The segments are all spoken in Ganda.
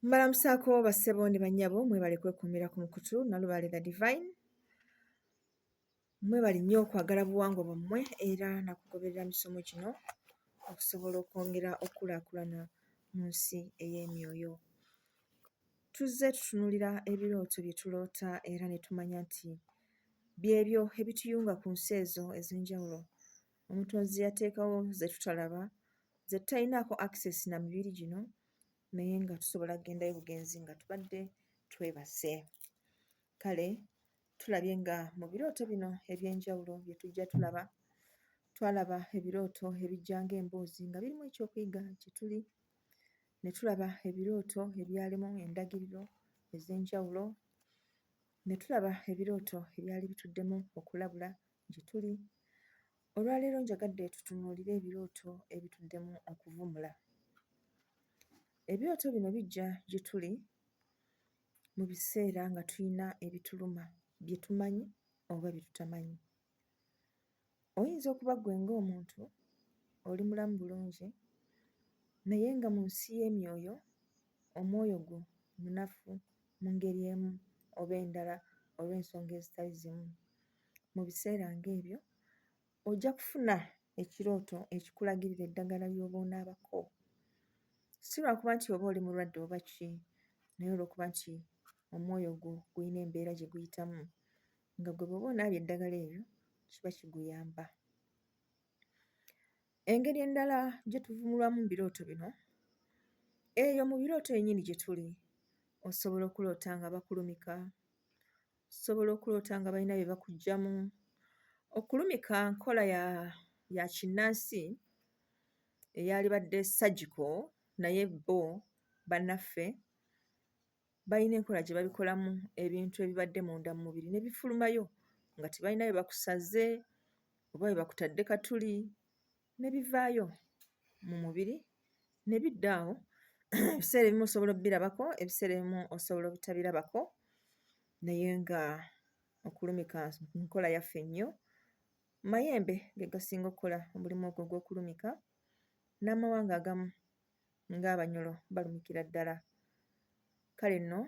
mbalamusaako bassebo ne bannyabo mwebale kwekuumira ku mukutu nalubaale the divine mwebale nnyo okwagala buwangwa bwammwe era nakugoberera misomo gino okusobola okwongera okukulaakulana mu nsi ey'emyoyo tuzze tutunulira ebirooto bye tuloota era ne tumanya nti byebyo ebituyunga ku nsi ezo ez'enjawulo omutonzi yateekawo zetutalaba zetutayinaako access na mibiri gino naye nga tusobola kugendayo bugenzi nga tubadde twebase kale tulabye nga mu birooto bino eby'enjawulo bye tujja tulaba twalaba ebirooto ebijja ng'emboozi nga birimu ekyokuyiga kye tuli ne tulaba ebirooto ebyalimu endagiriro ez'enjawulo ne tulaba ebirooto ebyali bituddemu okulabula gye tuli. Olwaleero njagadde tutunuulire ebirooto ebituddemu okuvumula. Ebirooto bino bijja gye tuli mu biseera nga tulina ebituluma bye tumanyi oba bye tutamanyi. Oyinza okuba ggwe ng'omuntu oli mulamu bulungi naye nga mu nsi y'emyoyo omwoyo gwo munafu mu ngeri emu oba endala olw'ensonga ezitali zimu. mu biseera ng'ebyo, ojja kufuna ekirooto ekikulagirira eddagala ly'oba onaabako. Si lwa kuba nti oba oli mulwadde oba ki, naye olw'okuba nti omwoyo gwo gulina embeera gye guyitamu, nga gwe bw'oba onaabye eddagala eryo kiba kiguyamba. Engeri endala gye tuvumulwamu mu birooto bino, eyo mu birooto yennyini gye tuli osobola okuloota nga bakulumika, Osobola okuloota nga balina bye bakuggyamu. Okulumika nkola ya ya kinnansi eyalibadde surgical naye bo bannaffe balina enkola gye babikolamu ebintu ebibadde munda mu mubiri ne bifulumayo nga tebalina bye bakusaze oba bye bakutadde katuli. ne bivaayo mu mubiri ne bidda awo ebiseera ebimu osobola obirabako ebiseera ebimu osobola obutabirabako naye nga okulumika nkola yaffe nnyo mayembe ge gasinga okukola omulimu ogwo ogw'okulumika n'amawanga agamu ng'abanyolo balumikira ddala kale nno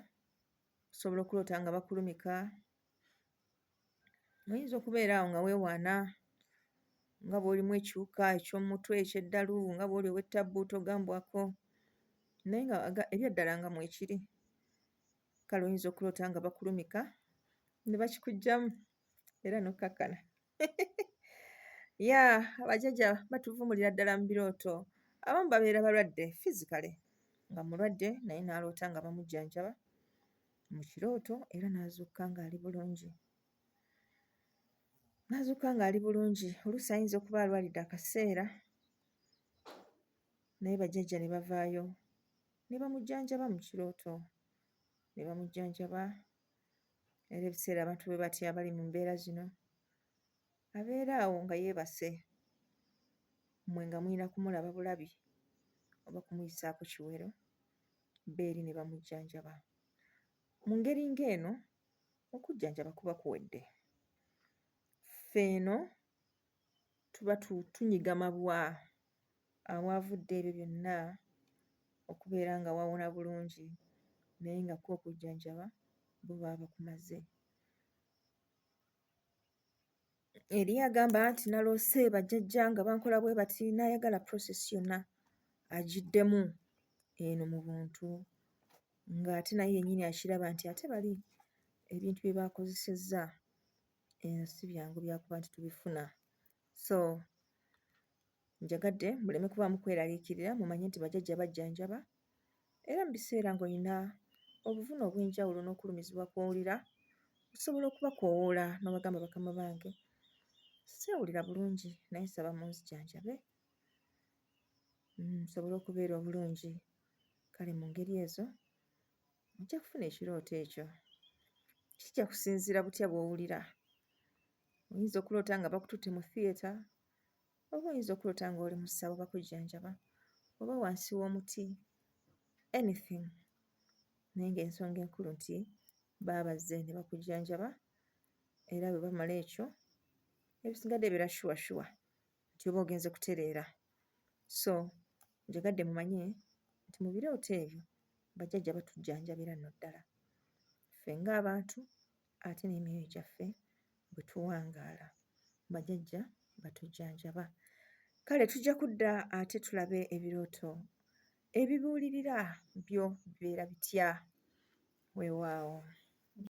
osobola okuloota nga bakulumika Oyinza okubeera awo nga weewaana nga bw'olimu ekiwuka eky'omutwe, eky'eddalu, nga bw'oli ow'ettabbu togambwako naye nga aga ebyaddala nga mwekiri. Kale oyinza okuloota nga bakulumika ne bakikuggyamu era n'okkakkana. Yeah, bajjajja batuvumulira ddala mu birooto. Abamu babeera balwadde physically nga mulwadde naye n'aloota nga bamujjanjaba. mu kirooto era n'azuukuka ng'ali bulungi n'azuukuka ng'ali bulungi oluusi ayinza okuba alwalidde akaseera naye bajjajja ne bavaayo ne bamujjanjaba mu kirooto ne bamujjanjaba era ebiseera abantu bwe batya abali mu mbeera zino abeera awo nga yeebase mmwe nga mulina kumulaba bulabi oba kumuyisaako kiwero b'eri ne bamujjanjaba. Mu ngeri ng'eno okujjanjaba kuba kuwedde. Ffe eno tuba tunyiga mabwa awaavudde ebyo byonna okubeera nga wawona bulungi naye nga kwo okujjanjaba bo baba bakumaze. Eri agamba nti naloose bajjajja nga bankola bwe bati n'ayagala process yonna agiddemu eno mu buntu ng'ate naye yennyini akiraba nti ate bali ebintu bye baakozesezza eno si byangu byakuba nti tubifuna so njagadde muleme kubaamu kweraliikirira mumanye nti bajjajja bajjanjaba era mu biseera ng'olina obuvune obw'enjawulo n'okulumizibwa kw'owulira, osobola okubakoowoola n'obagamba bakama bange seewulira bulungi naye nsaba munzijanjabe nsobole okubeera obulungi kale mu ngeri ezo ojja kufuna ekirooto ekyo kijja kusinziira butya bw'owulira oyinza okuloota nga bakututte mu theatre oba oyinza okulota nga oli musawo bakujjanjaba oba wansi w'omuti anything naye ng'ensonga enkulu nti baabazze ne bakujjanjaba era bwe bamala ekyo ebisigadde ebeera shuwa shuwa nti oba ogenze kutereera so njagadde mumanye nti mu birooto ebyo bajjajja batujjanjabira nno ddala ffe ng'abantu ate n'emyoyo gyaffe bwe tuwangaala bajajja batujjanjaba kale tujja kudda ate tulabe ebirooto ebibuulirira byo bibeera bitya weewaawo